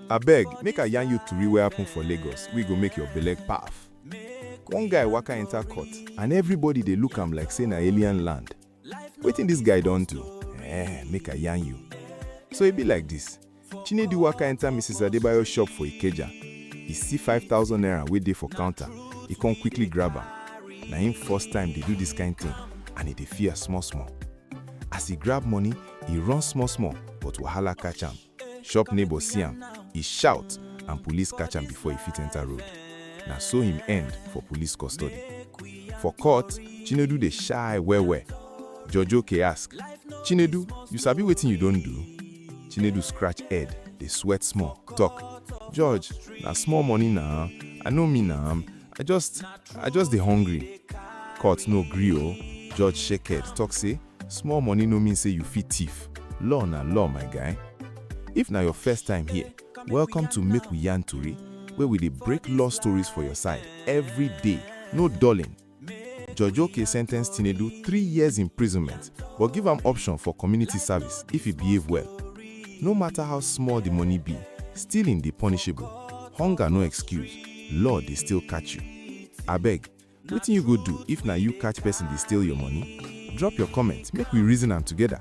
abeg make i yarn you tori wey happen for lagos wey go make your belle paf one guy waka enter court and everybody dey look am like say na alien land wetin dis guy don do eh make i yarn you so e be like dis chinedu waka enter mrs adebayo shop for ikeja e see 5000 naira wey dey for counter e come quickly grab am na im first time dey do dis kind thing and e dey fear small small As e grab money, e run small small but wahala catch am. Shop neighbor see am, e shout and police catch am before e fit enter road. Na so him end for police custody. For court, Chinedu dey shy well well. Judge Okey ask, Chinedu, you sabi wetin you don do? Chinedu scratch head, dey sweat small, talk, Judge, na small money na, I no mean am. I just I just dey hungry. Court no gree o. Judge shaked, talk say, small money no mean say you fit thief. Law na law, my guy. If na your first time here, welcome to Make We Yarn Tori, where we dey break law stories for your side every day, no dulling. Judge Oke sentenced Tinedu three years imprisonment, but give am option for community service if he behave well. No matter how small the money be, stealing dey punishable. Hunger no excuse. law dey still catch you. Abeg, wetin you go do if na you catch person dey steal your money? Drop your comment make we reason am together.